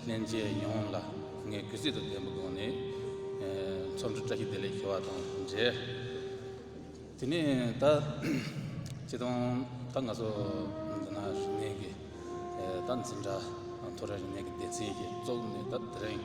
སླན་ཆད་ཡོངས་ལ་ངས་གུས་བརྩི་དང་ལྡན་པའི་སྒོ་ནས་ཚོགས་འདུ་བཀྲ་ཤིས་བདེ་ལེགས་ཞུ་བ་དང་འབྲེལ། དེ་ནས་ད་ཁྱེད་རང་ད་ང་ཚོ་འདི་ན་རིག་གནས་ཀྱི་ད་འཛིན་གྲྭ་ཐོ་རེངས་རིག་གནས་ཀྱི་སྡེ་ཚན་གྱི་བཙུགས་ནས་ད་དེ་རིང།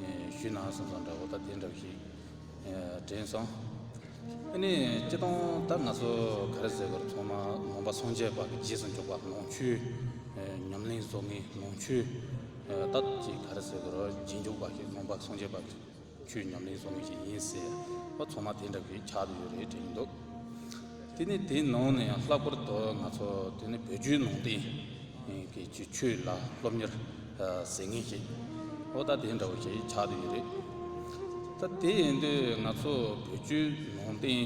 ཞུས་གནང་སོང་ཙང་འདྲ་བོ་ད་དེ་འདྲ་བོ་ཞིག་དྲན་སོང། ཨ་ནི་སྤྱི་སྟོང་ད་ང་ཚོ་ག་རེ་ཟེར་དགོས་ར་ཚང་མ་ནོངས་པ་སངས་རྒྱས་པ་གི་རྗེས་སུ་འཇུག་པ་ནོངས་ཆུ། ཉམས་ལེན་བཟོ་ངེས་ནོངས་ཆུ། ད་ཅི་ག་རེ་ཟེར་དགོས་ར་རྗེས་འཇུག་པ་ཞིག་ནོངས་པ་སངས་རྒྱས་པ་གི་ཆུ་ཉམས་ལེན་བཟོ་ངེས་ཞིག་ཡིན་ཟེར་བ་ཚང་མ་དེ་འདྲ་བོ་ཞིག་ཆགས་ཏུ་ཡོད་རེད་དྲན་འདུག་དེ་ནི་དེའི་ནང་ནས་ལྷག་པར་དུ་ང་ཚོ་དེ་ནི་བོད་བརྒྱུད་ནང་བསྟན་གི་ཆོས་ལ་སློབ་གཉེར་ཟེར་ངེས་ཀྱི་ཨོ་ད་དེ་འདྲ་བོ་ཞིག་ཆགས་འདོད་ཡོད་རེད། ད་དེ་ཡིན་དུས་ང་ཚོ་བོད་བརྒྱུད་ནང་བསྟན་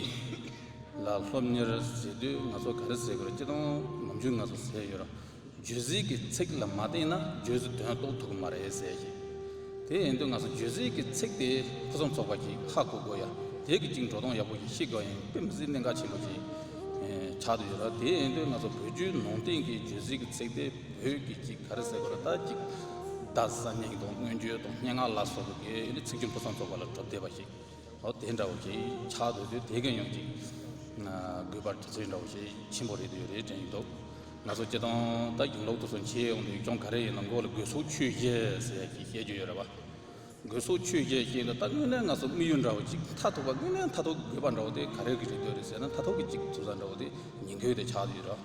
ལ་སློབ་གཉེར་ཟེར་དུས་ང་ཚོ་ག་རེ་ཟེར་དགོས་རེད་ཅི་སྟོང་ངམ་ཅུང་ང་ཚོ་ཟེར་ཡོད་རང་བརྗོད་ཚིག་གི་ཚིག་ལ་མ་བརྟེན་ན་བརྗོད་ཚིག་དོན་རྟོགས་ཐུབ་ཀྱི་མ་རེད་ཟེར་གྱི། དེ་ཡིན་དུས་ང་ཚོ་བརྗོད་ཚིག་གི་ཚིག་དེ་ཕུན་སུམ་ཚོགས་པ་ཞིག་ཧ་གོ་དགོས་ཡ་དེ་གི་གཅིག་འགྲོ་སྟངས་ཡག་པོ་ཞིག་ཤེས་དགོས་ཡིན་དཔེ་མི་སྲིད་གནད་འགག་ཆེན་པོ་ཞིག་ཆགས་འདོད་ཡོད་ར་དེ་ཡིན་དུས་ང་ཚོ་བོད་བརྒྱུད་ནང་བསྟན་གྱི་བརྗོད་ཚིག་གི་ཚིག་དེ། བོད་ཀྱི་གཅིག་ག་རེ་ཟེར་བ་ལ་ད་ཅིག་རྡ་ས་མིང་དང་སྔོན་བརྗོད་དང་སྙན་ངག་ལ་སོགས་པའི་དགེ་ལེགས་ཚིག་སྦྱོར་ཕུན་སུམ་ཚོགས་པ་ལ་གྲུབ་བསྡད་པ་ཞིག་ཨོ་དེ་འདྲ་བོ་ཞིག་ཆགས་འདུག་དུས་དེ་ག་ཡང་ཅིག་དགོས་པར་དུས་ཚོད་འདྲ་བོ་ཞིག་ཆེན་པོ་རེད་འདོད་རེད་དྲན་གྱི་འདུག་ང་ཚོ་སྤྱི་དང་ད་གིང་ལོག་ཏུ་སོང་ཆས་ཡོང་དུས་ཅུང་ག་རེ་ཡིན་ན་མགོ་ལ་དགོས་གསོག་ཆོས་བཤད་ཟེར་ཡ་ཞིག་བཤད་རྒྱུ་ཡོད་རེད་བ། དགོས་གསོག་ཆོས་བཤད་ཞེས་ལ་ད་དངོས་གནས་ང་ཚོ་དམིགས་ཡུལ་འདྲ་བོ་ཅིག་མཐའ་ཐུག་པ་དངོས་གནས་མཐའ་ཐུག་གི་དགོས་པ་འདྲ་བོ་དེ་ག་རེ་གི་རེད་འདོད་རེད་ཟེར་ན་མཐའ་ཐུག་གི་ཅིག་ཐུབ་ས་འདྲ་བོ་དེ་ཉིང་ཁུ་དེ་ཆགས་འདུག་ཡོད་རེད་བ།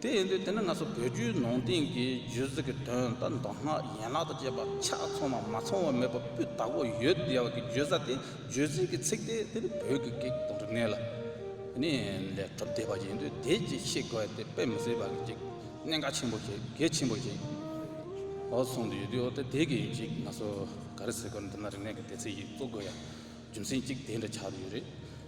དེ་ཡིན་དུས་དེ་ནི་ང་ཚོ་བོད་བརྒྱུད་ནང་བསྟན་གྱི་རྒྱུད་གཟིགས་ཀྱི་དོན་དང་མདོ་སྔགས་ཡན་ལག་དང་བཅས་པ་ཆ་ཚང་བ་མ་ཚང་བ་མེད་པ་སྤུས་དག་པོ་ཡོད་བསྡད་པ་གི་བརྗོད་བྱ་དེ་རྒྱུད་གཟིགས་ཀྱི་ཚིག་དེ་དེ་ནི་བོད་ཀྱི་གེགས་དང་རིག་གནས་ལ་ནི་ལས་གྲུབ་བསྡད་པ་ཡིན་དུས་དེ་ཅིག་ཤེས་དགོས་དེ་དཔེ་མི་སྲིད་པ་གི་ཅིག་གནད་འགག་ཆེན་པོ་ཞིག་གལ་ཆེན་པོ་ཞིག་ཨོ་གསུངས་དུ་ཡོད་དུས་ཨོ་དེ་དེ་གི་ཅིག་ང་ཚོ་ག་རེ་ཟེར་དགོས་ན་དེ་ན་རིག་གནས་ཀྱི་དེ་ཚིག་ཅིག་གཙོ་དགོས་ཡ་རྒྱུ་མཚན་ཅིག་དེ་འདྲ་ཆགས་དུ་ཡོད་རེད།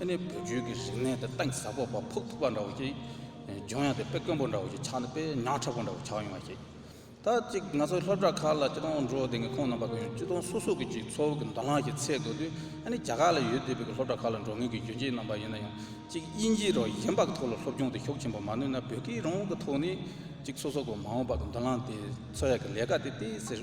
ཨ་ནི་བུ་རྒྱུད་ཀྱི་རིག་གནས་དེ་སྟེང་ཟ་ཕོ་བ་ཕུག་ཐུག་པ་འདྲ་བོ་ཞིག་འབྱུང་ཡང་དེ་དཔེ་དཀོན་པོ་འདྲ་བོ་ཞིག་ཆགས་ནས་དཔེ་ཉག་ཕྲ་པོ་འདྲ་བོ་ཆགས་ཡོང་བ་ཞིག་ད་ཅིག་ང་ཚོ་སློབ་གྲྭ་ཁག་ལ་སྤྱི་སྟོང་འགྲོ་དེ་ངས་ཁོང་རྣམ་པ་ཀུན་སྤྱི་སྟོང་སོ་སོ་གི་ཅིག་འཚོ་བ་གི་མདོ་སྔགས་ཀྱི་ཚད་དགོས་དུས་ཨ་ནི་རྒྱ་གར་ལ་ཡོད་དུས་བོད་ཀྱི་སློབ་གྲྭ་ཁག་ལ་འགྲོ་མཁན་གྱི་རྒྱུན་སྤྱིའི་རྣམ་པ་ཡིན་ན་ཡང་ཅིག་དབྱིན་ཇིའི་རོགས་གཞན་པ་གི་ཐོག་ལ་སློབ་སྦྱོང་དེ་ཤུགས་ཆེན་པོ་མ་ནུས་ན་བོད་ཀྱི་རང་དབང་གི་ཐོག་ནས་ཅིག་སོ་སོ་གི་མ་འོངས་པ་གི་མདུན་ལམ་དེ་འཚོལ་ཡག་གི་ལས་ཀ་དེ་སྟེ་ཟེར།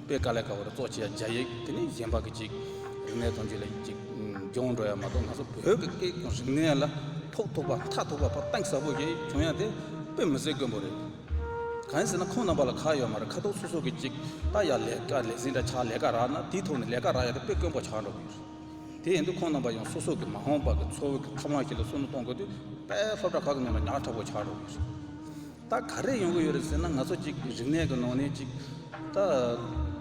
པའི་ཀ་ལས་ཀ་བར་གཙོ་བྱས་རྒྱ་ཡིག་དེ་ནི་གཞན་པ་གི་ཅིག་རིག་གནས་དང་རྒྱུ་ལས་ཅིག་སྦྱོང་འགྲོ་ཡ་མ་གཏོགས་ང་ཚོ་བོད་ཀྱི་སྐད་ཀྱི་རིག་གནས་ལ་ཐོག་ཐུག་པ་མཐའ་ཐུག་པ་བར་གཏན་ས་བོ་ཞིག་བྱུང་ཡ་དེ་དཔེ་མི་ཟད་དཀོན་པོ་རེད། གང་ཟེར་ན་ཁོང་རྣམ་པ་ལ་ཁག་ཡོད་མ་རེད་ཁ་ཐུག་སོ་སོ་གི་ཅིག་ལྟ་ཡ་ལས་ཀ་ལས་ཟིན་འདྲ་ཆགས་ལས་ཀ་རག་ན་དེའི་ཐོག་ནས་ལས་ཀ་རག་ཡ་དེ་དཔེ་དཀོན་པོ་ཆགས་འགྲོ་གི་ཡོད་རེད། དེ་ཡིན་དུས་ཁོང་རྣམ་པ་ཡང་སོ་སོ་གི་མ་འོངས་པ་གི་འཚོ་བའི་གི་ཐབས་ལམ་ཞིག་ལ་བསོད་ནོ་གཏོང་དགོས་དུས་དཔེ་སློབ་གྲ་ཁག་གི་ནང་ལ་ཉག་ཕྲ་བོ་ཆགས་འགྲོ་གི་ཡོད་རེད། ད་ག་རེ་ཡོང་གི་ཡོད་རེད་ཟེར་ན་ང་ཚོ་གཅིག་རིག་གནས་ཀྱི་ནང་ནས་གཅིག་ད་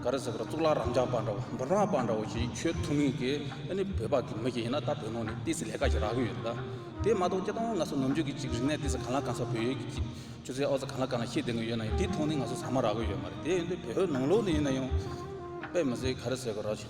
ག་རེ་ཟེར་བར་གཙུག་ལག་རམ་འབྱམས་པ་འདྲ་བོ་འབུམ་རམས་པ་འདྲ་བོ་ཞིག་ཁྱོད་ཐུན་མིན་གྱི་ཨ་ནི་བོད་པ་གི་མི་ཞིག་ཡིན་ན་ད་བོད་ནང་ནས་ཏི་སེ་ལས་ཀ་ཞིག་རག་གི་ཡོད་རེད་ད་དེ་མ་གཏོགས་ཀྱེ་ད་ང་ཚོ་ནམ་རྒྱུན་གྱི་གཅིག་རིག་གནས་ཏི་སེ་གང་ལ་གང་ས་བོད་ཡུལ་གྱི་གཅིག་ཆུ་ཚད་ཨོ་རྩལ་གང་ལ་གང་ལ་ཤེས་ལྡན་གྱི་ཡོད་ན་ཡང་དེ་ཐོག་ནས་ང་ཚོ་ཟ་མ་རག་གི་ཡོད་མ་རེད་དེ་ཡིན་དུས་བོད་ནང་ལོགས་ནས་ཡིན་ན་ཡང་དཔེ་མི་སྲིད་ག་རེ་ཟེར་གི་རག་བྱས་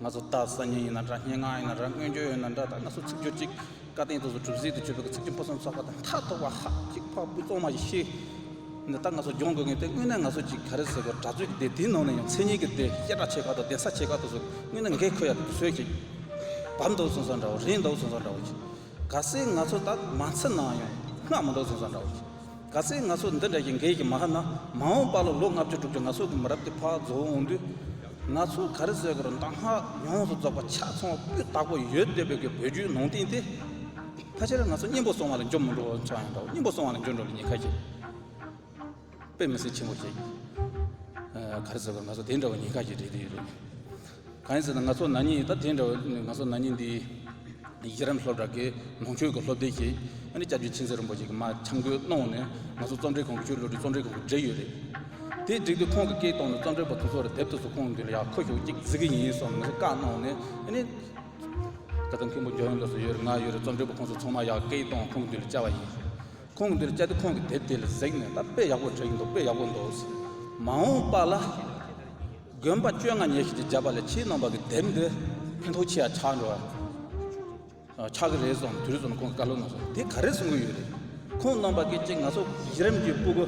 ང་ཚོ་ལྟ་སང་ཉིན་ཡིན་ན་འདྲ་སྙན་ངག་ཡིན་ན་འདྲ་སྔོན་བསྐྱོད་ཡིན་ན་འདྲ་ད་ང་ཚོ་ཚིག་སྦྱོར་གཅིག་བཀའ་བསྟན་དུ་གྲུབ་ཟིན་དུ་གྱུར་པའི་ཚིག་གི་སྤུ་གསུམ་ཚོགས་པ་དང་མཐའ་ཐོག་པ་ཧ་གཅིག་ཕག་སྤུ་གཙང་མ་ཞིག་ཤེས་ནས་ད་ང་ཚོ་སྦྱོང་དགོས་ངེས་ཏེ་དངོས་གནས་ང་ཚོ་ཅིག་ག་རེ་ཟེར་དགོས་གྲྭ་བཙུན་གྱི་སྡེ་དེའི་ནང་ནས་ཡང་མཚན་ཉིད་ཀྱི་སྡེ་སྐད་གྲགས་ཆེ་ཁག་དང་གདན་ས་ཆེ་ཁག་དུ་སོང་དངོས་གནས་འགས་ཁོ་ཡག་གི་ཟོལ་གྱིས་བབས་འདུག་གསུངས་ས་འདྲ་བོ་རེད་འདུག་གསུངས་ས་འདྲ་བོ་གྱིས་ག་སེ་ང་ཚོ་ད་མ་འཚལ་ནའང་ཡང་སྔགས་མི་འདུག་གསུངས་ས་འདྲ་བོ་གྱིས། ག་ཚད་ང་ཚོ་འདི་འདྲ་ཞིག་འགལ་གྱི་མ་ཧ་ན་མ་འོངས་པ་ལ་ལོ་ལྔ་བཅུ་དྲུག་ཅུ་ང་ཚོ་གི་མི་རབས་འདི་ཕག་རྫོགས་འོང་དུས། ང་ཚོ་ག་རེ་བཟོས་དགོས་རུང་གདམས་ངག་ཡོངས་སུ་རྫོགས་པ་ཆ་ཚང་བ་སྤུས་དག་པོ་ཡོད་འདོད་པའི་གི་བོད་བརྒྱུད་ནང་བསྟན་དེ། ཕལ་ཆེར་ང་ཚོ་གཉེན་པོ་སོང་བ་ལ་འཇོག་མི་འགྲོ་བ་ཆགས་ཡོང་འདྲ་བོ་གཉེན་པོ་སོང་བ་ལ་འཇོག་འགྲོ་ལ་ཉེན་ཁ་ཞིག་དཔེ་མི་སྲིད་ཆེན་པོ་ཞིག་ག་རེ་བཟོས་དགོས་ང་ཚོ་དེ་འདྲ་བོ་ཉེན་ཁ་ཞིག་འདྲེས་དུས་ཡོད་རེད། གང་ཟེར་ན་ང་ཚོ་ནག་ཉེས་ད་དེ་འདྲ་བ་ནི་ང་ཚོ་ནག་ཉེས་འདི་ཡི་གེ་རམ་ལྷོ་བྲག་གི་ནང་ཆོས་ཀྱི་སློབ་དེབ་ཀྱི་ཨ་ནི་སྐྱབས་རྗེ་མཁྱེན་བརྩེ་རིན་པོ་ཆེ་གི་མ་འཆམ་གོས་གནོངས་ནས་ང་ཚོ་རྩོམ་འབྲི་ཁང་གི་ཆོས་ལུགས་ཀྱི་རྩོམ་འབྲི་ཁང་གི་འབྲེལ་ཡོད་རེད། དེ་བསྒྲིགས་དུས་ཁོང་གི་སྐད་གཏོང་ནས་རྩོམ་འབྲི་བ་དེ་ཚོ་ལ་དེབ་དེ་ཚོ་ཁོང་གིས་ཡག་མཁོ་ཤོག་ཅིག་བརྩི་གི་ཡིན་སོགས་ང་ཚོ་བཀའ་གནོངས་ནས་ཨ་ནི། ད་ལྟ་མཁན་པོ་རྒྱ་ཡོན་ལགས་སུ་ཡོད་རེད་ང་ཡོད་རེད་རྩོམ་འབྲི་བ་ཁོང་ཚོ་ཚང་མ་ཡག་སྐད་གཏོང་ཁོང་གི་འདི་ལ་བཅར་བ་ཡིན། ཁོང་གི་འདི་ལ་བཅར་དུས་ཁོང་གིས་དེབ་དེ་ལ་གཟིགས་ནས་ད་དཔེ་ཡག་པོ་བྲིས་ཀྱི་འདུག་དཔེ་ཡག་པོ་འདུག་ཟེར། མ་འོངས་པ་ལ། དགོན་པ་བཅོ་ལྔ་ཉེར་བཞི་དུ་བྱས་པ་ལས་ཕྱིའི་ནང་པ་གི་དེབ་འདི་ཕན་ཐོགས་ཆེ་ཡང་ཆག་འགྲོ་བ་ཆག་གི་རེད་སོང་དུས་རེ་ཟུང་ཁོང་གི་བཀའ་སློབ་ནང་སོང་དེ་ག་རེ་གསུང་གི་ཡོད་རེད་ཁོང་ནང་པ་གི་གཅིག་ང་ཚོ་གཞི་རིམ་གྱི་སྤུ་གུ་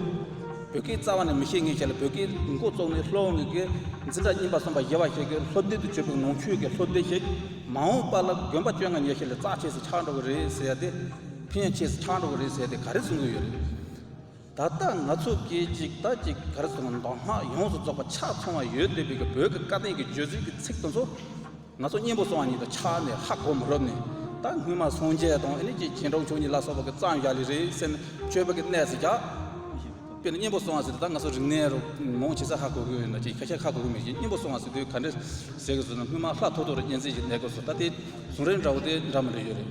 བོད་སྐད་རྩ་བ་ནས་མི་ཤེས་ངེས་ཤེས་ལ་བོད་སྐད་འགོ་བཙོག་ནས་ལྷོ་འང་གི་འཛིན་གྲྭ་རྙིང་པ་གསུམ་པ་བཞི་བ་ཞིག་གི་སློབ་དེབ་ཏུ་བཅོས་པའི་ནང་ཆོས་ཀྱི་སློབ་དེབ་ཞིག་མ་འོངས་པ་ལ་དགོན་པ་བཅོ་ལྔ་ཉེར་བཞི་ལས་རྩ་ཆེས་སུ་ཆག་འགྲོ་གི་རེད་ཟེར་ཏེ་ཕན་ཡང་ཆེས་སུ་ཆག་འགྲོ་གི་རེད་ཟེར་ཏེ་ག་རེ་གསུང་གི་ཡོད་རེད། ད་ལྟ་ང་ཚོ་སྐད་ཅིག་ཐ་ཅིག་གི་གར་སོང་མདོ་སྔགས་ཡོངས་སུ་རྫོགས་པ་ཕྱག་ཚོང་བ་ཡོད་འདོད་པའི་བོད་ཀྱི་བཀའ་བསྟན་གྱི་བརྗོད་ཚུལ་གྱི་ཚིག་དོན་ཚོ་ང་ཚོ་གཉན་པོ་སོང་བ་ཉིད་དུ་ཆགས་ནས་ཧ་གོ་མི་རུབ་ནས་ད་སྔོན་མ་སངས་རྒྱས་དང་ཨེ་ནས་ཀྱི་གྱེན་གྲོགས་ཆོས་ཉིད་ལ་སོགས་པ་གྱི་གཙང་བཞག་ལས་རིགས་སེམས་དཔྱོད་པ་གྱི་གནས་སུ་རྒྱག་པས་ན་གཉན་པོ་སོང་བ་ཟེར་དུས་ད་ང་ཚོ་རིག་གནས་རོ་མོང་བྱེད་ས་ཧ་གོ་གི་ཡོད་འདོད་ཅེས་ཁ་ཤས་ཁ་གོ་གི་མེད་ཅེས་གཉན་པོ་སོང་བ་ཟེར་དུས་ག་འདྲ་ཟེར་གི་སོང་ན་སྔོན་མ་ལྷ་ཐོ་ཐོ་རུ་གཉན་ཚིག་ཅིག་གནས་དགོས་སོ་ད་དེ་ཟུང་རེ་འདྲ་བོ་དེ་འདྲ་མི་འདྲ་ཡོད་རེད།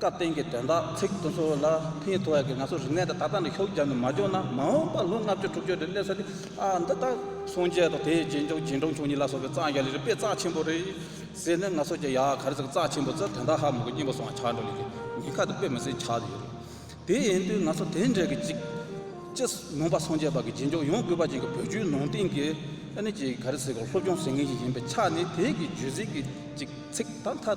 སྐབས་དེང་གི་དོན་དག་ཚིག་དོན་སོགས་ལ་ཕན་ཐོགས་ཡག་གི་ང་ཚོ་རིག་གནས་དེ་ད་ལྟ་ནས་ཤོག་བརྒྱབ་ནས་མ་འཇོག་ན་མ་འོངས་པར་ལོ་ལྔ་བཅུ་དྲུག་བཅུ་རེར་སླེབས་ས་དེ་ཨ་འདི་ལྟར་སོང་རྗེས་ཐོག་དེའི་རྗེས་འཇོག་རྗེས་འབྲང་ཆུང་གཉིས་ལ་སོགས་པའི་རྩ་རྒྱ་ལས་རིག་པའི་རྩ་ཆེན་པོ་རེད་ཟེར་ནས་ང་ཚོ་ཀྱི་ཡ་ག་རེ་ཟིག་རྩ་ཆེན་པོ་ཚོས་དོན་དག་ཧ་མོ་གི་སྙིང་པོ་སོགས་ཆགས་འགྲོ་ལས་ཀྱི་ཉེན་ཁ་དེ་དཔེ་མི་སྲིད་ཆགས་ཡོད་རེད། དེ་ཡིན་དུས་ང་ཚོ་དེ་འདྲ་གི་ཅིག་ཅི་ནོངས་པ་སོང་རྗེས་བར་གྱི་རྗེས་འཇོག་ཡོང་དགོས་པ་ཅན་གྱི་བོད་བརྒྱུད་ནང་བསྟན་གྱི་ཨ་ནི་ཅི་ག་རེ་ཟིག་ལ་སློབ་སྦྱོང་ཟེར་མཁན་ཞིག་ཡིན་པའི་ཆ་ནས་དེའི་གི་བརྗོད་ཚིག་གི་ཅིག་ཚིག་དང་མཐའ་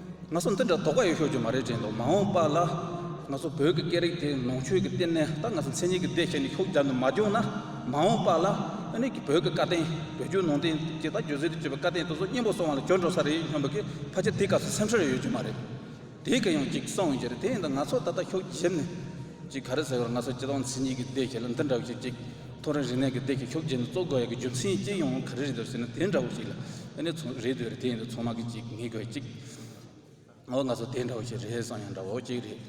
ང་ཚོ་འདི་འདྲ་དོགས་པ་ཡོད་ཤོག་རྒྱུ་མ་རེད་དྲན་འདུག་མ་འོངས་པ་ལ་ང་ཚོ་བོད་ཀྱི་སྐད་རིགས་དེ་ནང་ཆོས་ཀྱི་སྟེང་ནས་ད་ང་ཚོ་མཚན་ཉིད་ཀྱི་སྡེ་བྱས་ནས་ཤོག་རྒྱབ་ནས་མ་བསྐྱོང་ན་མ་འོངས་པ་ལ་ཨ་ནི་གི་བོད་ཀྱི་བཀའ་བསྟན་བོད་བརྒྱུད་ནང་བསྟན་གྱི་ད་རྒྱུད་ཟིལ་དུ་གྱུར་པའི་བཀའ་བསྟན་དེ་ཚོ་སྙིང་པོ་སོང་བ་ལ་གྱོན་འགྲོ་ས་རེད་སྙམ་པ་གི་ཕ་ཆེ་དེ་སྐབས་སུ་སེམས་ཤོར་ཡོད་རྒྱུ་མ་རེད་དེ་ག་ཡང་ཅིག་སོང་ཡོད་རེད་དེ་ཡིན་ད་ང་ཚོ་ད་ལྟ་ཤོག་རྒྱབ་ནས་ཅིག་ག་རེ་ཟེར་བར་ང་ཚོ་སྤྱི་དང་མཚན་ཉིད་ཀྱི་སྡེ་བྱས་ལ་འདི་འདྲ་བོ་ཞིག་ཅིག་ཐོ་རེངས་རིག་གནས་ཀྱི་སྡེ་བྱས་ཤོག་རྒྱབ་ནས་གཙོ་དགོས་ཡ་གི་རྒྱུ་མཚན་ཅི་ཡོང་ག་རེ་རེད་འདུག་ཟེར་ན་དེ་འདྲ་བོ་ཞིག་ལ། དེ་ནས་ཚོང་རེད་འདོད་རེད་དེ་ཡིན་དུ་ཚོང་མ་གི་ཅིག་ངེས་དགོས་ཅིག། ཨོ་ང་ཚོ་དེ་འདྲ་བོ་ཅིག་རེད་བསམ་ཡང་འདྲ་བོ་ཅིག་རེད།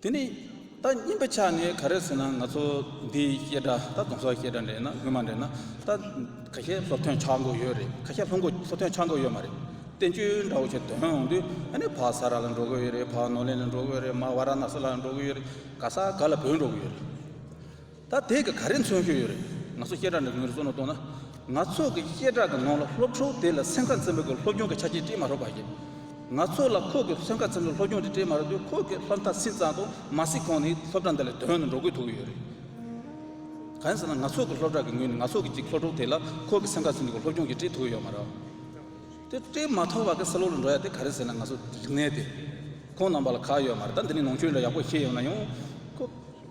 དེ་ནས་ད་སྙིམ་པ་ཆགས་ནས་ག་རེ་ཟེར་ན་ང་ཚོ་འདི་སྐད་འདྲ་ད་གོང་ས་སྐད་འདྲ་འདྲེས་ན་སྔོན་མ་འདྲེས་ན་ད་ག་ཤེད་སློབ་ཐོན་ཆགས་མགོ་ཡོད་རེད་ག་ཤེད་སློབ་མགོ་སློབ་ཐོན་ཆགས་མགོ་ཡོད་མ་རེད་བསྟན་བཅོས་འདྲ་བོ་ཅིག་འདོན་འོང་དུས་ཨ་ནི་བག་ས་ར་ལ་འགྲོ་གི་ཡོད་རེད་བག་ནོར་ལེན་ལ་འགྲོ་གི་ཡོད་རེད་མ་བ་ར་ན་ས་ལ་འགྲོ་གི་ཡོད་རེད་ག་ས་ག་ལ་བུད་འགྲོ་གི་ཡོད་རེད། ད་དེ་ག་རེ་མཚོན་ཤོས་ཡོད་རེད། ང་ཚོ་བཤད་གྲྭ་འདྲ་གི་ངོས་སུ་བཙུར་ནས་གཏོང་ན། ང་ཚོ་གི་བཤད་གྲྭ་གི་ནང་ལ་སློབ་ཕྲུག་དེ་ལ་སེམས་ཁ་འཚེམ་པའི་སྒོས་སློབ་སྦྱོང་གི་ཆ་རྐྱེན་སྤྲད་མ་ཐུབ་པ་ཡིན། ང་ཚོ་ལ་ཁོ་གི་སེམས་ཁ་འཚེམ་པའི་སློབ་སྦྱོང་དེ་སྤྲད་མ་ཐུབ་དུས་ཁོ་གི་ལྷ་མཐའ་སྲིད་གཙང་དུ་མ་སྲིད་ཁོང་ནི་སློབ་གྲྭ་འདི་ལས་དོན་དུ་འགྲོ་དགོས་ཐུག་གི་ཡོད་རེད། གང་ཡིན་ཟེར་ན་ང་ཚོ་གི་སློབ་གྲྭ་གི་ངོས་ནས་ང་ཚོ་གི་ཅིག་སློབ་ཕྲུག་དེ་ལ་ཁོ་གི་སེམས་ཁ་འཚེམ་པའི་སྒོས་སློབ་སྦྱོང་གི་སྤྲད་ཐུབ་ཀྱི་ཡོད་མ་རེད། དེ་སྤྲད་མ་ཐུབ་པ་གི་སེ་ལོ་ལ་འགྲོ་ཡ་དེ་ག་རེ་ཟེར་ན་ང་ཚོ་རིག་གནས་དེ་ཁོང་རྣམ་པ་ལ་ག་ཡོད་མ་རེད་ད་འདི་ནས་ནང་ཆོས་འདྲ་ཡག་པོ་ཤེས་ཡོད་ན་ཡང་ཁོ།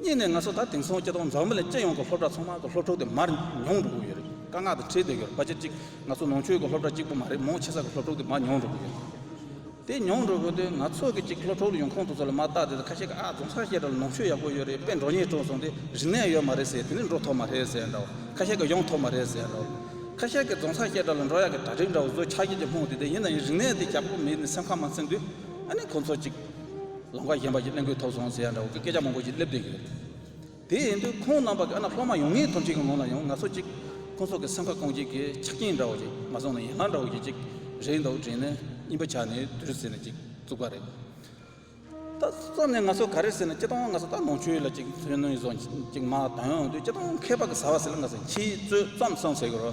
གཉིས་ནས་ང་ཚོ་ད་དེང་སང་སྐྱེ་སྟོང་འཛམ་བུ་ལ་སྤྱི་ཡོངས་ཀྱི་སློབ་གྲྭ་ཚང་མ་གི་སློབ་ཕྲུག་དེ་མར་མྱོང་འགྲོ་གི་ཡོད་རེད་དཀའ་ངག་དེ་བྲིས་སྡོད་ཀྱི་རེད་པ་ཆ་གཅིག་ང་ཚོ་ནང་ཆོས་ཀྱི་སློབ་གྲྭ་གཅིག་པོ་མ་རེད་མང་ཆེ་ས་གི་སློབ་ཕྲུག་དེ་མར་མྱོང་འགྲོ་གི་ཡོད་རེད་དེ་མྱོང་འགྲོ་གི་དུས་ང་ཚོ་གི་གཅིག་སློབ་ཕྲུག་ལ་ཡོང་ཁོང་དུ་ཚོ་ལ་མ་བརྟག་དེ་ད་ཁ་ཤས་ཀྱི་ཨ་རྫོང་ས་སྐྱེ་དགྲ་ལ་ནང་ཆོས་ཡག་པོ་ཡོད་རེད་དཔེ་འགྲོ་ཉེས་དྲུག་སོང་དེ་རིག་གནས་ཡོད་མ་རེད་ཟེར་དེ་ནས་འགྲོ་ཐོབ་མ་རེད་ཟེར་འདྲ་བོ་ཁ་ཤས་ཀྱི་ཡོང་ཐོབ་མ་རེད་ཟེར་འདྲ་བོ་ཁ་ཤས་ཀྱི་རྫོང་ས་སྐྱེ་དགྲ་ལ་འགྲོ་ཡག་གི་གྲ་སྒྲིག་འདྲ་བོ་བཟོས་ཆགས་ཀྱི་ཀྱི་ལྷུང་དེ་དེ་ཡིན་ན་ཡིན་རིག་གནས་དེ་ཀྱག་པོ་མེད་ནས་སེམས་ཁ་མ་ཚིམ་དུས་ཨ་ནི་ཁོང་ཚོ་གཅིག། ལམ་ཁ་ཞན་པ་ཞིག་གླེང་དགོས་ཐོག་སོང་ཟེར་ཡ་འདྲ་བོ་གི་སྐད་ཆ་མང་པོ་ཞིག་སླེབས་བསྡད་ཀྱི་རེད། དེ་ཡིན་དུས་ཁོང་རྣམ་པ་གི་ཨ་ན་སློབ་མ་ཡོང་ངེས་ཐོབ་ཅིག་གི་ངོ་ལ་ཡང་ང་སོ་ཅིག་ཁོང་ཚོ་གི་སེམས་ཁ་སྐོང་བྱེད་ཀྱི་ཆ་རྐྱེན་འདྲ་བོ་ཞིག་མ་བཟུང་ན་ཡན་ལག་འདྲ་བོ་ཞིག་ཅིག་རེད་འདུག་དྲིན་ནས་སྙིང་པོ་ཆགས་ནས་དུས་རེ་ཟེར་ནས་ཅིག་བཙུགས་པ་རེད། ད་བཙུགས་ནས་ང་སོ་ག་རེ་ཟེར་ནས་ཅི་ཐོང་ང་སོ་ད་ནོར་འཁྲུལ་ལ་ཅིག་ཚོན་ནུས་བཟོ་ཅིག་མ་དང་དུས་ཅི་ཐོང་མཁས་པ་གི་ཟ་བ་ཟེར་ལ་ང་སོ་ཁྱིའི་བཙོད་ཙམ་སོང་ཟེར་གི་རོ།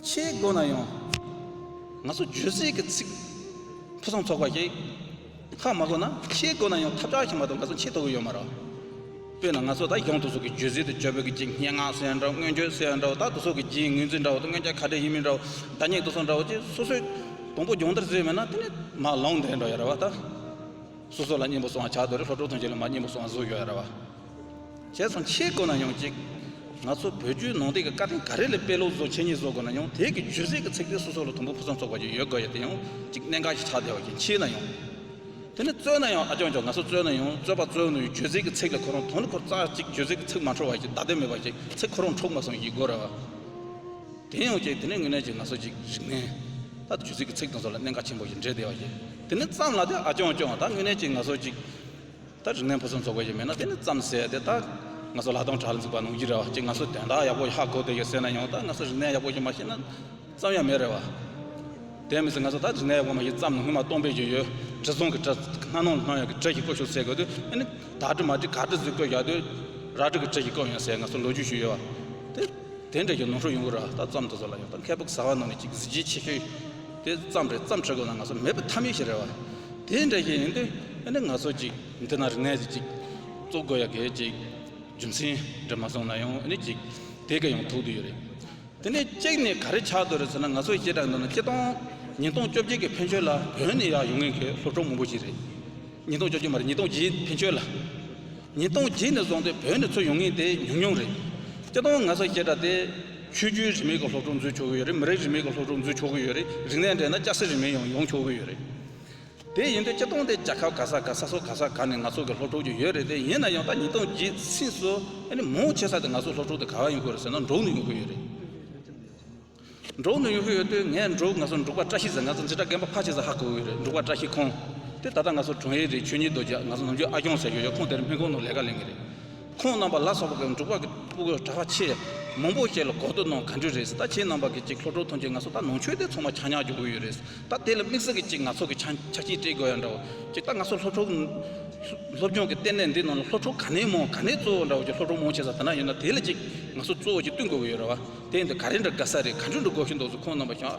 ཆེས་དགོས་ན་ཡང། ང་ཚོ་བརྗོད་ཚིག་གི་ཚིག་ཕུན་སུམ་ཚོགས་པ་ཞིག་ཧ་མ་དགོས་ན་ཆེས་དགོས་ན་ཡང་ཐབས་ཆག་ཞིག་མ་གཏོགས་ང་ཚོ་ཆེས་དོ་གུ་ཡོད་མ་རེད། དཔེར་ན་ང་ཚོ་ད་གཞུང་དུ་སོགས་ཀྱི་བརྗོད་ཚིག་དེ་བརྗོད་པོ་གི་ཅིག་སྙན་ངག་སེལ་ཡང་འདྲ་བོ་སྔོན་བརྗོད་སེལ་ཡང་འདྲ་བོ་ད་དུ་སོགས་ཀྱི་རྗེའི་ངོས་འཛིན་འདྲ་བོ་དང་སྔོན་ཆད་ག་འདྲའི་ཡིན་མིན་འདྲ་བོ་ད་སྙིགས་དུ་སོང་འདྲ་བོ་ཅེས་སོ་སོའི་དང་པོ་སྦྱོང་བརྡར་བྱེད་མེད་ན་དེ་ནི་མ་ལོངས་དེ་འདྲ་ཡོད་རེད་བ། ད་སོ་སོ་ལ་སྙན་པོ་སོང་བ་ཆགས་འདུག་རེད་ལྷོ་བྲོ་ཐོན་རྗེས་ལ་མ་སྙན་པོ་སོང་བ་བཟོ་ཡོད་རེད་བ། བྱས་སོང་ཕྱེད་དགོས་ན་ཡང་གཅིག། ང་ཚོ་བོད་བརྒྱུད་ནང་བསྟན་གྱི་བཀའ་དེང་ག་རེ་ལས་དཔེ་ཀློག་བཟོ་འཆད་ཉན་བཟོ་དགོས་ན་ཡང་དེ་གི་ཇུས་གཟེར་གྱི་ཚིག་དེ་སོ་སོ་ལ་དུམ་བུ་ཕུན་སུམ་ཚོགས་པ་ཞིག་ཡོད་དགོས་ཡོད་དེ་ཡང་གཅིག་གནད་འགག་ཞིག་ཆགས་བསྡད་བ་ཞིག་མཆིས་ན་ཡང། དེ་ནི་རྩོད་ན་ཡང་ཨ་ཅོག་ཅོག་ང་ཚོ་རྩོད་ན་ཡང་རྩོད་པ་རྩོད་ནུས་ཇུས་གཟེར་གྱི་ཚིག་ལ་ཁོ་རང་དོན་འཁོར་རྩ་གཅིག་ཇུས་གཟེར་གྱི་ཚིག་མ་འཕྲོ་བ་ཞིག་བདག་དོན་མེད་པ་ཞིག་ཚིག་ཁོ་རང་འཁྲུག་མ་སོང་ཡིད་དགོས་རེད་བ། དེ་ཡང་གཅིག་དེ་ནི་དངོས་གནས་ཀྱིས་ང་ཚོ་ཅིག་རིག་གནས། ད་ཇུས་གཟེར་གྱི་ཚིག་དང་ཚོ་ལ་གནད་འགག་ཆེན་པོ་ཞིག་འདྲེས་བསྡད་བ་ཞིག་དེ་ནི་ཙམ་ལ་དེ་ཨ་ཅོག་ཅོག་ད་དངོས་གནས་ཀྱིས་ང་ཚོ་ཅིག། ད་རིག་གནས་ཕུན་སུམ་ཚོགས་པ་ཞིག་མིན་ན་དེ་ནི་བརྩམས་ཟད་དེ་ད་ང་ཚོ་ལྷག་དོན་གྲྭ་ལ་འཛུགས་པ་ནོངས་ཀྱི་རེད་བ་གཅིག་ང་ཚོས་དོན་དག་ཡག་པོ་ཧ་གོ་འདོད་ཀྱི་ཟེར་ན་ཡང་ད་ང་ཚོ་རིག་གནས་ཡག་པོ་ཞིག་མ་ཤེས་ན་བརྩམས་ཡ་མེད་རེད་བ། དེ་མི་སྲིད་ང་ཚོ་ད་རིག་གནས་ཡག་པོ་མ་ཤེས་བརྩམས་ནས་སྔོན་མ་སྟོང་དཔེ་ཞིག་ཡོད་དྲི་བཟང་གི་དྲི་སྣ་ནང་སྣང་ཡག་གི་དྲི་ཞིག་བཀོད་ཤོག་ཟེར་དགོས་དུས་ཨེ་ནི་ད་དྲི་མ་དྲི་ག་དྲི་ཟིག་བཀོད་བཞག་དུས་ར་དྲི་གི་དྲི་ཞིག་བཀོད་ཡོང་ཟེར་ང་ཚོ་ལོ་རྒྱུས་ཞིག་ཡོད་བ། དེ་དེ་འདྲ་ཞིག་ནོངས་ཤོག་ཡོང་གི་རེད་བ་ད་བརྩམས་ཐུབ་ས་ལ་ཡང་ད་མཁས་པོ་གཟའ་བ་རྣམས་ནས་ཅིག་གཟི་བརྗིད་ཆེ་ཤོས། དེ་ཙམ་རེད་བརྩམས་ཁྲི་གོང་ན་ང་ཚོ་མེད་པ་ཐབས་མེད་ཞིག་རེད་བ། དེ་འདྲ་ཞིག་ཡིན་དུས་ཨེ་ནི་ང་ཚོ་ཅིག་འདི་ན་རིག་གནས་ཅིག་ཅིག་གཙོ་དགོས་ཡ་གས་ཅིག་རྒྱུ་མཚན་འདྲ་མ་བཟུང་ན་ཡང་ཨེ་ནི་ཅིག་དེ་ག་ཡང་ཐུག་དུ་ཡོད་རེད། དེ་ནས་གཅིག་ནས་ག་རེ་ཆགས་འདུག་རེད་ཟེར་ན་ང་ཚོ་ཤེས་རྟགས་འདུག་ན་སྤྱི་སྟོང་ཉིས་སྟོང་བཅོ་བརྒྱད་ཀྱི་ཕན་ཆོད་ལ་བོད་ནས་ཡག་ཡོང་ངེས་མཁན་སློབ་གྲོགས་མང་པོ་ཞིག་རེད། ཉིས་སྟོང་བཅོ་བརྒྱད་མ་རེད་ཉིས་སྟོང་བརྒྱད་ཕན་ཆོད་ལ། ཉིས་སྟོང་བརྒྱད་ནས་བཟུང་སྟེ་བོད་ནས་ཚུར་ཡོང་ངེས་དེ་ཉུང་ཉུང་རེད། སྤྱི་སྟོང་ང་ཚོ་ཤེས་རྟགས་དེ། ཆོས་རྒྱུད་རིས་མེད་ཀྱི་སློབ་གྲོགས་འཛུལ་ཆོག་གི་ཡོད་རེད་མི་རིགས་རིས་མེད་ཀྱི་སློབ་གྲོགས་འཛུལ་ཆོག་གི་ཡོད་རེད་རིག་གནས་འདྲེས་ན་སྐྱ་སེར་རིས་མེད་ཡང་ཡོང་ཆོག་གི་ཡོད་རེད། དེ་ཡིན་དུས་སྤྱི་སྟོང་དེ་རྒྱལ་ཁབ་ག་ས་ག་ས་སོ་ག་ས་ག་ནས་ང་ཚོ་གི་སློབ་གྲོགས་ཀྱི་ཡོད་རེད་དེ་ཡིན་ན་ཡང་ད་ཉིས་སྟོང་བརྒྱད་ཚིགས་སུ་ཨཱ་ནི་མོའོ་བྱེད་ས་དེ་ང་ཚོ་སློབ་གྲོགས་དེ་ག་བ་ཡོང་གི་རེད་ཟེར་ན་འབྲོག་ནས་ཡོང་གི་ཡོད་རེད། འབྲོག་ནས་ཡོང་གི་ཡོད་དུས་ངས་འབྲོག་ང་ཚོ་འབྲུག་པ་བཀྲ་ཤིས་ཟེར་ང་ཚོ་འདི་དགྲ་རྒན་པ་ཕ་བྱེད་ས་ཧ་གོ་གི་རེད་འབྲུག་པ་བཀྲ་ཤིས་ཁོང་དེ་ད་ལྟ་ང་ཚོ་དྲུང་ཡིག་རེད་ཆོས་ཉིད་རྡོ་རྗེ་ང་ཚོ་ནམ་རྒྱུན་ཨ་སྐྱོང་ཟེར་གྱི་ཡོད་ཁོང་དེར་སྨན་ཁང་ནང་ལས་ཀ་ལེན་གི་རེད། ཁོང་རྣམ་པ་ལ་སོགས་པ་གི་འབྲུག་པ་གི་སྤུ་གུ་གྲགས་པ་ཆེས་མང་པོ་ཞིག་ལ་གོ་བསྡུར་གནང་ག་འགྲོ་རེད་ཟེར་ད་ཁྱེད་རྣམ་པ་གི་ཅིག་ལྷོ་བྲོ་ཐོན་ཆེད་ང་ཚོ་ད་ནང་ཆོས་དེ་ཚོ་མ་ཆགས་ཉག་འགྱོ་གི་ཡོད་རེད་ད་དེ་ལ་དམིགས་བསལ་གི་ཅིག་ང་ཚོ་གི་ཆ་ཆ་རྐྱེན་སྤྲད་དགོས་ཡ་འདྲ་བོ་ཅིག་ད་ང་ཚོ་ལྷོ་བྲོ་གི་སློབ་སྦྱོང་གི་ལྟེ་གནས་འདི་ནང་ལ་ལྷོ་བྲོ་ག་ནས་མང་ག་ནས་གཙོ་བོ་འདྲ་བོ་ཅིག་ལྷོ་བྲོ་མང་ཆེ་ས་དེ་འདྲ་ཡོད་ན་དེ་ལ་ཅིག་ང་ཚོ་གཙོ་བོ་ཅིག་བསྟུན་དགོས་གི་ཡོད་ར་བ་དེ་འདི་ག་རེ་འདྲ་དགའ་ས་རེད་ག་འགྲོ་འགྲོ་དགོས་ཤེས་འདུག་ཟེར་ཁོང་རྣམ་པ་ཞོགས་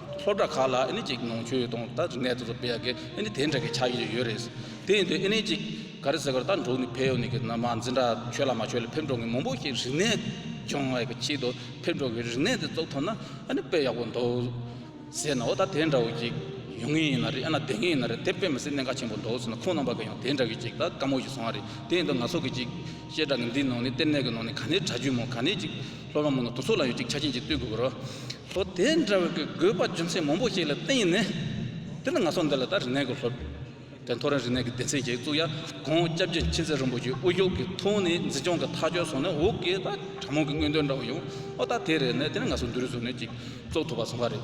སློབ་གྲྭ་ཁག་ལ་ཨེ་ནི་ཅིག་ནང་ཆོས་དང་ད་རིག་གནས་དེ་ཚོ་སྤེལ་ཡག་གི་ཨེ་ནི་དེ་འདྲ་གི་ཆ་ཡོད་ཡོད་རེད། དེ་ཡིན་དུས་ཨེ་ནི་ཅིག་ག་རེ་ཟེར་བར་ད་འབྲུག་ནི་ཕལ་ཡོད་ནི་གི་ནམ་མ་འཛིན་གྲྭ་ཆོས་ལ་མ་ཆོས་ལ་ཕེབས་འགྲོ་མཁན་མང་པོ་ཞིག་རིག་གནས་སྦྱོང་བའི་གི་ཆེད་དུ་ཕེབས་འགྲོ་གི་རིག་གནས་དེ་ཚོ་ཐོན་ན་ཨེ་ནི་དཔེ་ཡག་པོ་འདུག་ཟེར་ན་འོ་ད་དེ་འདྲ་བོ་ཅིག་ཡོང་ངེས་ཡིན་ན་རེད་ཨེ་ན་དེ་ངེས་ཡིན་ན་རེད་དེ་དཔེ་མི་སྲིད་གནད་འགག་ཆེན་པོ་འདུག་ཟེར་ན་ཁོང་རྣམ་པ་གི་ཡང་དེ་འདྲ་གི་ཅིག་ད་དཀའ་མོ་ཞིག་བཟུང་བ་རེད་དེ་ཡིན་དུས་ང་ཚོ་གི་ཅིག་བཤད་གྲྭ་གི་འདིའི་ནང་ནི་ལྟེ་གནས་གི་ནང་ནི་ག་ནི་གྲྭ་རྒྱུན་མང་ག་ནི་ཅིག། ལྷོ་རོང་མོ་ནི་དུར་ཚོགས་ལ་ཡོད་ཅིག་ཆ་རྐྱེན་གྱིས་བསྟུན་དགོས་པར་རོ། ལྷོ། དེ་འདྲ་བའི་དགོས་པ་རྒྱུ་མཚན་མང་པོ་ཞིག་ལ་བརྟེན་ནས། དེ་ལ་ང་ཚོ་འདི་ལ་ད་རི་ནས་གོ་ལྷོ། དེ་མཐོ་རིའི་རི་ནས་གི་སྡེ་ཚན་གྱིས་བཙུགས་ཡ་གོང་སྐྱབས་རྗེ་མཁྱེན་བརྩེ་རིན་པོ་ཆེའི་དབུ་བཞུགས་ཀྱི་ཐུགས་ནི་འཛིན་སྐྱོང་གི་ཐག་གཅོད་སོང་ནས་འོ་གི་ད་དྲ་མོང་གི་དངོས་དོན་འདྲ་བོ་ཡོང་ཨོ་ད་དེ་རེད་ནས་དེ་ནས་ང་ཚོ་འདི་རུ་བཟོ་གནས་ཅིག་བཙུགས་ཐུབ་པ་སོང་བ་རེད།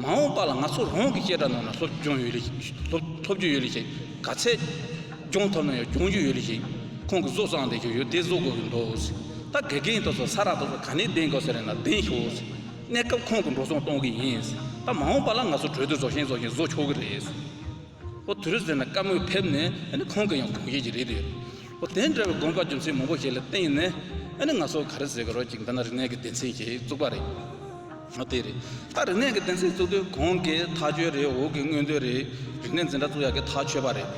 མ་འོངས་པ་ལ་ང་ཚོ་རང་གིས་བཅད་ཁྲ་གནང་ན་སློབ་སྦྱོང་ཡོད་ལེ་ཞིག་ག་ཚད་སྦྱོང་ཐུབ་ན་ཡང་སྦྱོང་རྒྱུ་ཡོད་ལེ་ཞིག་ཁོང་གིས་བཟོ་བསྲང་བསྡད་རྒྱུ་ཡོད་དེ་བཟོ་དགོས་ཀྱི་འདུག་ཟེར་ད་དགེ་རྒན་དོ་ཚོ་ས་ར་དོ་ཚོ་ག་ནས་གདན་དགོས་ཟེར་རན་ན་གདན་ཤོག་ཟེར་གནས་སྐབས་ཁོང་གིས་འགྲོ་སོང་གཏོང་གི་ཡིན་ཟེར་ད་མ་འོངས་པ་ལ་ང་ཚོ་གྲོས་བསྡུར་བཟོ་བཞིན་བཟོ་བཞིན་བཟོ་ཆོག་གི་རེད་ཟེར་ཨོ་དེ་རེད་ཟེར་ན་བཀའ་མོལ་ཕེབས་ནས་ཨ་ནི་ཁོང་གི་ཡང་དགོངས་བཞེས་ཀྱི་རེད་དེ་ཨོ་དེ་འདྲ་བའི་དགོངས་པ་རྒྱུ་མཚན་མང་པོ་ཞིག་ལ་བརྟེན་ནས་ཨ་ནི་ང་ཚོ་ག་རེ་ཟེར་གི་རོ་ཅིག་འདི་ན་རིག་གནས་ཀྱི་སྡེ་ཚན་ཞིག་བཙུགས་པ་རེད། ཨ་དེ་རེད། ད་རིག་གནས་ཀྱི་གདན་སའི་བཙུགས་དུས་གོང་གི་ཐག་གཅོད་རེད་འོག་གི་དངོས་དོན་རེད། རིག་གནས་འཛིན་གྲྭ་བཙུགས་ཡག་གི་ཐག་ཆོད་པ་རེད།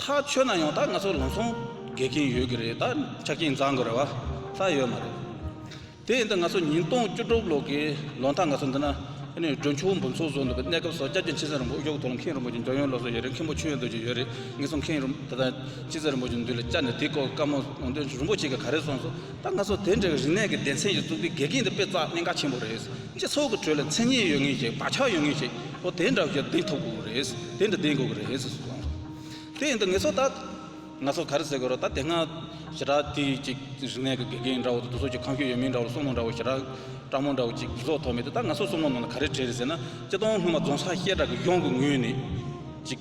ཐག་ཆོད་ན་ཡང་ད་ང་ཚོ་ལམ་སང་བརྒལ་གྱིན་ཡོད་གི་རེད་ད་ཆ་རྐྱེན་འཛག་དགོས་རེ་བ་ད་ཡོད་མ་རེད། དེ་ཡིན་དུས་ང་ཚོ་ཉིན་སྟོང་བཅུ་དྲུག་ལོ་གི་ལོ་མཐའ་ང་ཚོ་འདི་ན་འགྲོ་ཆུང་འབུམ་ཚོགས་བཟོ་འདུག་པའི་གནས་སྐབས་སོགས་སྐྱབས་རྗེ་མཆེད་ཟན་རིན་པོ་དབྱུག་ཐོ་ལ་མཁན་རིན་པོ་ཆེ་མགྱོགས་ཡོན་ལོ་སོགས་ཡོད་རེད་མཁན་པོ་མཆོད་ཡོན་རྡོ་རྗེ་ཡོད་རེད་ངེད་ཚོ་མཁན་རིན་པོ་ད་ལྟ་མཆེད་ཟན་རིན་པོ་ཆེ་འདུས་ལ་བཅར་ནས་དེ་སྐོར་བཀའ་མོལ་གནང་དོན་རིན་པོ་ཆེ་གིས་ག་རེ་གསུངས་སོ་ད་ང་ཚོ་དེ་འདྲའི་རིག་གནས་ཀྱི་སྡེ་ཚན་ཞིག་བཙུགས་དུས་དགེ་རྒན་དེ་དཔེ་རྩ་གནད་འགག་ཆེན་པོ་རེད། སྤྱི་ཚོགས་ཀྱི་ཁྲོད་ལ་མཚན་སྙན་ཡོད་ངེས་ཤིག་བག་ཆགས་ཡོད་ངེས་ཤིག་པོ་དེ་འདྲ་ཞིག་ལྡན་ཐུབ་དགོས་ཀྱི་རེད། དེ་འདྲ་ལྡན་དགོས་ཀྱི་རེད་ཟེར་སོང། དེ་ཡིན་དུས་ངེད་ཚོ་ད། ང་ཚོ་ག་རེ་ཟེར་དགོས་རོགས་ད་དེ་སྔ། ཞེ་དྲག་དེ་ཅིག་རིག་གནས་ཀྱི་དགེ་རྒན་འདྲ་བོ་དེ་ཚོ་སོགས་ཀྱི་ཁང་ཤུལ་ཡོད་མིན་འདྲ་བོ་སྲུང་མ་འདྲ་བོ་ཞེ་དྲག། སྤྲང་མོ་འདྲ་བོ་ཅིག་གཟུགས་ཟོག་ཐོགས་མེད་དེ་ད་ང་ཚོ་སྲུང་མ་ནང་ན་ག་རེ་བྲིས་རེད་ཟེར་ན། སྤྱི་སྟོང་སྔོན་མ་རྫོང་སར་ཤེལ་བྲག་གི་གཞོང་གི་ངོས་ནས། ཅིག།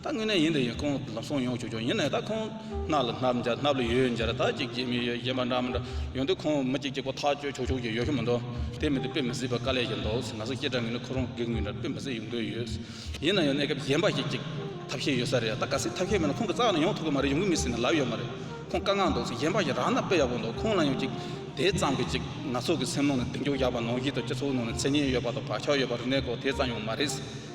ད་དངོས་གནས་ཡིན་དུ་ཡིན་ཁོང་ལ་སོང་ཡོང་ཞུ་ཆོག་ཡིན་ནའི་ད་ཁོང་སྣ་ལ་སྣབས་འཇགས་སྣབས་ལ་ཡོས་འཇགས་ར་ད་ཅིག་ཅིག་མི་ཡོད་གཞན་པ་འདྲ་མི་འདྲ་ཡོང་དུས་ཁོང་མི་གཅིག་གཅིག་པོ་ཐག་གཅོད་ཆོག་ཆོག་ཅིག་ཡོད་ཤོ་མི་འདུག་དེ་མིན་དུ་དཔེ་མི་སྲིད་པ་དཀའ་ལས་ཀྱི་འདུག་ང་ཚོ་ཁྱེད་འདྲ་ངན་ནི་ཁོ་རང་སྒེར་ངོས་འདྲ་དཔེ་མི་སྲིད་ཡོང་དོན་ཡོད་ཡིན་ན་ཡང་གནས་སྐབས་གཞན་པ་ཞིག་ཅིག་ཐབས་ཤེས་ཡོད་ས་རེད་ད་ག་སྲིད་ཐབས་ཤེས་མེད་ན་ཁོང་གི་རྩ་ལ་ཡོང་ཐུབ་གི་མ་རེད་ཡོང་གི་མི་སྲིད་ན་ལབ་ཡོད་མ་རེད་ཁོང་དཀའ་ངལ་འདུག་གཞན་པ་ཞིག་རག་ན་དཔེ་ཡག་པོ་འདུག་ཁོང་ལ་ཡང་ཅིག་དེ་ཙམ་གྱིས་ཅིག་ང་ཚོ་གི་སེམས་ནང་ནས་གདེང་འཇོག་ཡག་པ་ནང་བཞིན་དུ་སྤྱི་ཚོགས་ནང་ནས་མཚན་སྙན་ཡོད་པ་དང་བག་ཆགས་ཡོད་པ་རིག་གནས་སྐོར་དེ་ཙམ་ཡང་མ་རེད།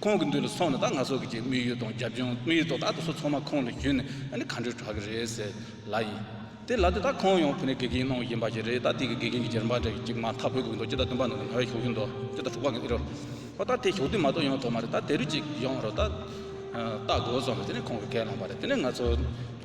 ཁོང་གི་འདུས་ལ་སོང་ནས་ད་ང་སོགས་ཀྱི་ཅིག་དམིགས་ཡུལ་དང་རྒྱབ་ལྗོངས་དམིགས་ཡུལ་ཐོག་ད་དུ་སུ་ཚང་མ་ཁོང་ལ་ཞུས་ནས་ད་ནི་ག་འདྲའི་དྲག་གི་རེད་ཟེར་ལ་ཡིན། དེ་ལ་དེ་ད་ཁོང་ཡང་བོད་ནས་དགེ་རྒན་གནང་གི་ཡིན་པ་ཞིག་རེད་ད་དེ་གི་དགེ་རྒན་གྱི་རྗེས་འབངས་གྲས་ཀྱི་ཅིག་མ་མཐའ་བོད་གོས་འདུག་ཅི་ད་བདུན་པ་ནང་གི་ང་བས་ཞོགས་ཀྱི་འདུག་ཅི་ད་དྲུག་པ་གི་ཨི་རོ། ཨོ་ད་དེ་ཞོགས་དུས་མ་གཏོགས་ཡོང་ཐོག་མ་རེད་ད་དེ་རུ་ཅིག་ཡོང་རོགས་ད། ལྟ་དགོས་སོང་ལ་དེ་ནས་ཁོང་གི་སྐད་བླངས་པ་རེད་དེ་ནས་ང་ཚོ།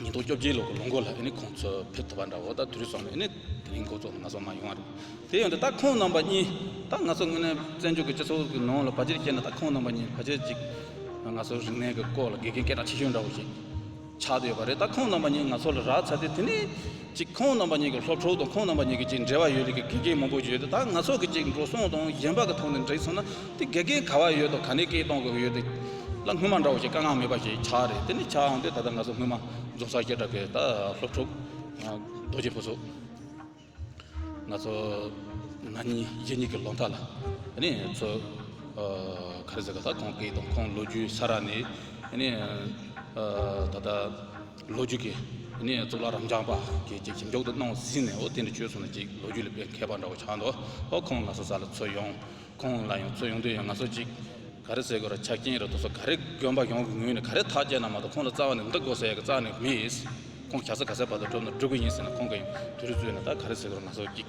ཉིས་སྟོང་བཅོ་བརྒྱད་ལོ་ལོ་འགོ་ལ་ཨེ་ནི་ཁོང་ཚོ་ཕེབས་ཐུབ་པ་འདྲ་བོ་ད་དུས་རེ་ཟུང་ལ་ཨེ་ནི་དེ་རིང་ཁོ་ཚོ་ང་ཚོ་མ་ཡོང་བ་རེད་དེ་ཡོང་དུས་ད་ཁོང་རྣམ་པ་གཉིས་ད་ང་ཚོ་དངོས་གནས་བཙན་བྱོལ་གྱི་སྤྱི་ཚོགས་ཀྱི་ནང་ལ་བར་ཆད་བསྐྱལ་ན་ད་ཁོང་རྣམ་པ་གཉིས་བར་ཆད་ཅིག་ང་ཚོ་རིག་གནས་ཀྱི་སྐོར་ལ་དགེ་རྒན་སྐད་གྲགས་ཆེ་ཤོས་འདྲ་བོ་ཞིག་ཆགས་བསྡད་ཡོད་པ་རེད་ད་ཁོང་རྣམ་པ་གཉིས་ང་ཚོ་ལ་རག་ཚར་དུས་དེ་ནི་གཅིག་ཁོང་རྣམ་པ་གཉིས་ཀྱི་སློབ་ཕྲུག་དང་ཁོང་རྣམ་པ་གཉིས་ཀྱི་གཅིག་འབྲེལ་བ་ཡོད་ལུགས་ཀྱི་དགེ་རྒན་མང་པོ་ཡོད་དེ་དག་ང་ཚོ་གི་གཅིག་འགྲོ་སོང་དང་གཞན་པ་གི་ཐོག་ནས་འདྲེས་སོང་ན་དེ་དགེ་རྒན་ག་བ་ཡོད་དང་ག་ནས་སྐད་གཏོང་དགོས་ཀྱི་ཡོད་དེ་ལ་སྔོན་མ་འདྲ་བོ་ཞིག་དཀའ་ངག་མེད་པ་ཞིག་ཆགས་རེད་དེ་ནི་ཆགས་འོང་དུས་ད་ལྟ་ང་ཚོ་སྔོན་མ་རྫོགས་ཚར་སྐད་གྲགས་པའི་ད་སློབ་ཕྲུག་རྡོ་རྗེ་ཕུན་ཚོགས་ང་ཚོ་ང་གཉིས་རྗེས་གཉིས་ཀྱི་ལོ་མཐའ་ལ་ནི་ཚོ་ག་རེ་ཟེར་ག་ད་ཁོང་སྐད་དང་ཁོང་ལོ་རྒྱུས་ས་ར་ནས་ནི་ད་ལྟ། ལོ་རྒྱུས་ཀྱི་གནས་གཙོ་ལ་རམ་འབྱམས་པ་གྱིས་ཀྱི་ཇེ་མགྱོགས་དུ་གནང་བ་ཟིན་ནས་འོ་དེ་འདྲ་བྱོས་སོང་ན་ཅིག་ལོ་རྒྱུས་ལ་མཁས་པ་འདྲ་བོ་ཆགས་འདུག་ཧོ་ཁོང་ལ་སོ་ས་ལ་འཚོལ་ཡོང་ཁོང་ལ་ཡང་འཚོལ་ཡོང་དུས་ཡང་ང་ཚོ་ཅིག་ག་རེ་ཟེར་དགོས་ར་ཆ་རྐྱེན་རེ་དོགས་སོ་ག་རེ་དགོན་པ་གཞུང་གི་ངོས་ནས་ག་རེ་ཐག་བཅད་ན་མ་གཏོགས་ཁོང་ལ་རྩ་བ་ནས་འདི་དགོས་ཟེར་ཡག་གི་རྩ་ནས་མེད་ཁོང་ག་ས་ག་སའི་བར་དུ་འགྲོ་ན་འགྲོ་གི་ཡིན་ཟེར་ན་ཁོང་གི་དུས་རེ་རྩོད་ནས་ད་ག་རེ་ཟེར་དགོས་ར་ང་ཚོ་ཅིག།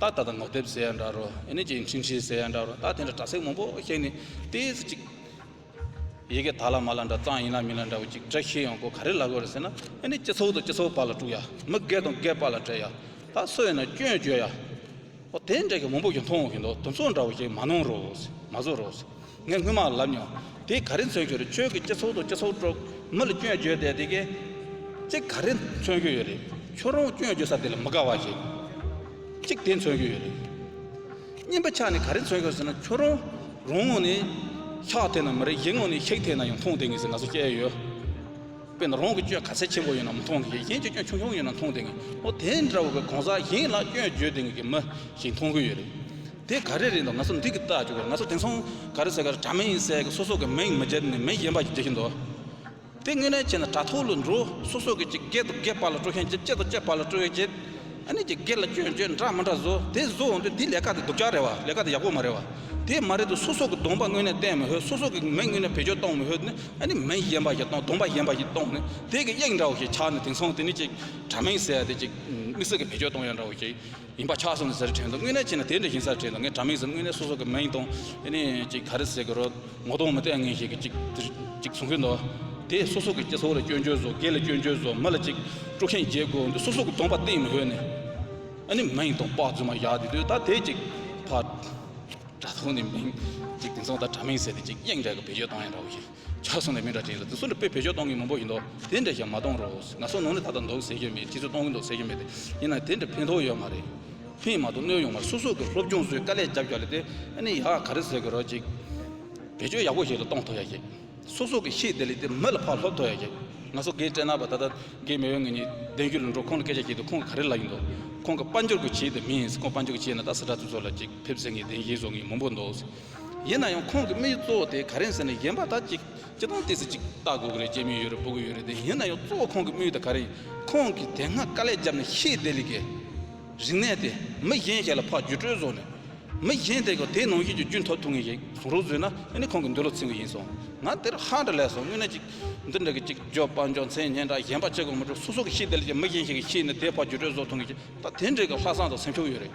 རྟགས་ད་ལྟ་ངོ་དེབ་ཟེར་ཡང་འདྲ་རོ་ཨེ་ནས་ཀྱི་འཕྲིན་བཞིན་ཟེར་ཡང་འདྲ་རོ་རྟགས་དེ་འདྲ་དྲ་ཚིགས་མང་པོ་ཤེས་ནས་ལྟས་ཟེར་ཅིག། ཡི་གེ་དག་ལ་མ་ལ་འདྲ་གཙང་ཡིན་ལ་མིན་ལ་འདྲ་བོ་ཅིག་བཀྲ་ཤིས་ཡོང་སྒོ་ག་རེ་ལ་དགོས་རེད་ཟེར་ན་ཨེ་ནས་སྤྱི་ཚོགས་དང་སྤྱི་ཚོགས་པ་ལ་དཀྲུག་ཡ་མི་སྒེར་དང་སྒེར་པ་ལ་བྲེལ་ཡ་ད་སུ་ཡིན་ན་སྐྱོན་བརྗོད་ཡ། ཨོ་དེ་འདྲ་གི་མང་པོ་ཞིག་མཐོང་ཞིག་འདུག་དུམ་ཚོགས་འདྲ་བོ་ཞིག་མ་གནང་རོགས། མ་བཟོ་རོགས། ངས་སྔོན་མ་ལབ་མྱོང། དེ་ག་རེ་མཚོན་གྱི་རེད་ཁྱོད་ཀྱི་སྤྱི་ཚོགས་དང་སྤྱི་ཚོགས་ཁྲོད་མི་ལ་སྐྱོན་བརྗོད་དེ་དེ་གས་ཅི་ག་རེ་མཚོན་གྱི་ཡོད་རེད། ཁྱོད་རང་སྐྱོན་བརྗོད་ས་དེ་ལ་མི་དགའ་བ་ཞིག་གཅིག་དེ་མཚོན་གྱི་ཡོད་རེད། གཉིས་པ་ཆ་ནས་ག་རེ་མཚོན་གྱི་ཟེར་ན་ཁྱོད་རང་རང་ངོ་ནས་ཤག་དེ་ན་མི་རེད་གཞན་ངོ་ནས་ཤིག་དེ་ན་ཡང་མཐོང་བསྡད་ངེས་ཟེར་ང་ཚོ་སྐྱེ་ཡི་ཡོད། དཔེར་ན་རང་གི་སྐྱོན་ག་ཚད་ཆེན་པོ་ཡོད་ན་མི་མཐོང་གི་ཡོད་གཞན་གྱི་སྐྱོན་ཆུང་ཆུང་ཡོད་ན་མཐོང་བསྡད་ངེས་ཨོ་དེ་འདྲ་བོ་གོང་ས་གཞན་ལ་སྐྱོན་བརྗོད་བསྡད་ངེས་ཀྱི་མི་ཞིག་མཐོང་གི་ཡོད་རེད། དེ་ག་རེ་རེད་འདོ་ང་ཚོ་འདི་གི་ལྟ་རྒྱུ་གོ་རེད་ང་ཚོ་དེང་སང་ག་རེ་ཟེར་ག་རེ་དྲ་མིན་ཡིན་ཟེར་གི་སོ་སོ་གི་མིང་མི་བརྗེད་ནས་མི་གཞན་པ་ཞིག་བརྗེད་ཀྱིན་འདུག་དེ་དངོས་གནས་བྱས་ན་དྲ་ཐོག་ལ་འགྲོ་སོ་སོ་གི་ཅིག་སྒེར་དང་སྒེར་བར་ལ་སྤྲོ་ཤན་བརྗེད་བཅད་དང་བཅད་བར་ལ་སྤྲོ་བས་བརྗེད་ཨ་ནི་ཅིག་སྒེར་ལ་སྐྱོན་བརྗོད་འདྲ་མི་འདྲ་བཟོ་དེ་བཟོ་འོང་དུས་དེ་ལས་ཀ་དེ་སྡུག་ཅག་རེད་བ་ལས་ཀ་དེ་ཡག་པོ་མ་རེད་བ་དེ་མ་རེད་དུ་སོ་སོ་གི་གདོང་པ་དངོས་གནས་བསྟན་མི་ཤོད་སོ་སོ་གི་མིང་དངོས་གནས་བེད་སྤྱོད་གཏོང་མི་ཤོད་ནི་ཨ་ནི་མིང་གཞན་པ་ཞིག་གཏོང་གདོང་པ་གཞན་པ་ཞིག་གཏོང་ནི་དེ་གི་དབྱིངས་འདྲ་བོ་ཞིག་ཆགས་ནས་དེང་སང་དེ་ནི་ཅིག་དྲ་མིང་ཟེར་ཡ་དེ་ཅིག་དམིགས་བསལ་གི་བེད་སྤྱོད་གཏོང་ཡ་འདྲ་བོ་ཞིག་ཡིན་པ་ཆགས་སོང་ཟེར་བྲན་དུ་དངོས་གནས་ཅི་ན་དེ་འདྲ་ཞིག་ས་བྲིས་ལ་ངས་དྲ་མིག་ཟེར་དངོས་གནས་སོ་སོ་གི་མིང་དང་ཨེ་ནས་ཅིག་ག་རེ་ཟེར་གི་རོ་ངོ་གདོང་མི་བལྟས་ངེས་ཞིག་གི་ཅིག་དེར་ཅིག་གསུང་གིན་འདུག་དེས་སོ་སོ་གི་སྐྱེ་ཚོ་ལ་སྐྱོན་བརྗོད་བཟོ་དགེ་ལ་སྐྱོན་བརྗོད་བཟོ་མི་ལ་ཅིག་དཀྲུག་ཤིང་རྒྱས་དགོས་འདུག་སོ་སོ་གི་གདོང་པ་སྟེང་མི་ཧོད་ནས་ཨེ་ནས་མིང་དང་པགས་རྫུན་མ་བཞག་དེ་དུས་ད་དེས་ཅིག་ཕར་དྲ་ཐོག་ནས་མིང་ཅིག་དེང་སང་ད་དྲ་མིག་ཟེར་ཏེ་ཅིག་གཡེང་རྒྱག་གི་བེད་སྤྱོད་བཏང་ཡང་འདྲ་བོ་ཞིག། ཆ་གསུངས་ནས་མི་འདྲ་བྱས་ཟེར་དེ་སུ་འདྲ་བོས་བེད་སྤྱོད་གཏོང་གིན་མང་པོ་ཡིན་འདོག་དེ་འདྲ་ཞིག་མ་གཏོང་རོགས་ང་སོ་ནོ་ནི་ད་ལྟ་འདོག་ཟེར་གྱི་མེད་དེ་ཚོས་གཏོང་གིན་འདོག་ཟེར་གྱི་མེད་ཡིན་ནའི་དེ་འདྲ་ཕན་ཐོག་ཡོད་མ་རེད། ཕན་མ་ཐོག་གནོད་ཡོང་མ་རེད་སོ་སོ་གི་སློབ་སྦྱོང་བཟོས་དཀའ་ལས་རྒྱབ་རྒྱག་ལས་དེ་ནི་ཡག་ག་རེ་ཟེར་གི་རོགས་ཅིག། བེད་སྤྱོད་ཡག་པོ་ཞིག་ལ་གཏོང་ཐོག་ཡག་ཞིག། སོ་སོ་གི་ཤེས་བདེ་ལས་དེ་མི་ལ་ཕར་སློབ་ཐོག་ཡག་ཞིག་ང་སོ་གའི་སྤྲེལ་ནག་པ་ད་ལྟ་གའི་མེས་དབོན་ངེད་གཉིས་བདེན་རྒྱུ་ལ་འགྲོ་ཁོང་ལ་སྐད་ཆ་བཤད་དུས་ཁོང་གི་ག་རེ་ལབ་ཡིན་འདོག་ཁོང་གི་དཔའ་འབྱོར་གྱི་བྱེད་དེ་མིན་ཟེར་ཁོང་དཔའ་འབྱོར་གྱི་བྱེད་ན་ད་སི་ཏྲ་ཚུ་ཚོ་ལ་ཅིག་ཕེབས་ཟེར་ངས་བདེན་བཞེས་བཟོ་ངེས་མང་པོ་འདོག་ཟེར། ཡིན་ན་ཡང་ཁོང་གི་དམིགས་གཙོ་བོ་དེ་ག་རེད་ཟེར་ནས་གཞན་པ་དག་ཅིག་ཅི་ཐང་ལྟས་ཚོད་ཅིག་བལྟ་དགོས་ཀྱི་རེད་ཅེས་མིག་ཡོད་རེ་སྤུ་གུ་ཡོད་རེ་བསྡད་ཡིན་ན་ཡང་གཙོ་བོ་ཁོང་གི་དམིགས་ཡུལ་དེ་ག་རེད་ཡིན་ཁོང་གིས་དེ་སྔ་དཀའ་ལས་བརྒྱབ་ནས་ཤེས་བསྡད་ལས་ཀའི་རིག་གནས་དེ་མི་གཞན་ཞིག་ལ་ཕ་རྒྱུད་སྤྲོད་བཟོ་ནས་མི་གཞན་དེ་ག་དེའི་ནང་བཞིན་གྱི་རྒྱུན་ཐོབ་ཐུབ་ངེས་ཞིག་བཟོ་རོགས་བཟོས་ན་ཨེ་ནི་ཁོང་གི་འདོད་བློ་ཚིམ་གྱི་ཡིན་སོང་ང་དེར་ཧ་འདྲ་ལས་སོང་དངོས་གནས་ཅིག་འདི་འདྲ་གི་ཅིག་རྒྱོབ་དཔའ་འཇོག་མཚན་སྙན་གྲགས་གཞན་པ་ཅི་གང་མི་འགྲོ་སོ་སོ་གིས་ཤེས་བསྡད་ལས་ཀའི་མི་གཞན་ཞིག་གིས་ཤེས་ནས་དེའི་ཕ་རྒྱུད་སྤྲོད་བཟོ་ཐུབ་ངེས་ཞིག་ད་དེ་འདྲའི་གི་ལྷག་བསམ་དང་སེམས་ཤུགས་ཡོད་རེད།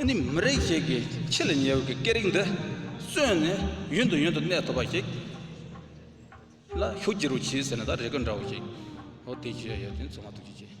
ཨེ་ནི་མི་རིགས་ཤིག་གི་ཆེས་ལས་ཉེ་བའི་སྐད་རིགས་འདི་གསོན་ནས་ཡུན་དུ་ཡུན་དུ་གནས་ཐུབ་པ་ཞིག་ལ་ཤུགས་བསྒྱུར་བར་གྱིས་ཟེར་ན་ད་རེ་སྐད་འདྲ་བོ་ཞིག་འོ་དེ་བྱས་ཡོད་དེ་ཚོ་མ་ཐུག་ཅིག་བྱས།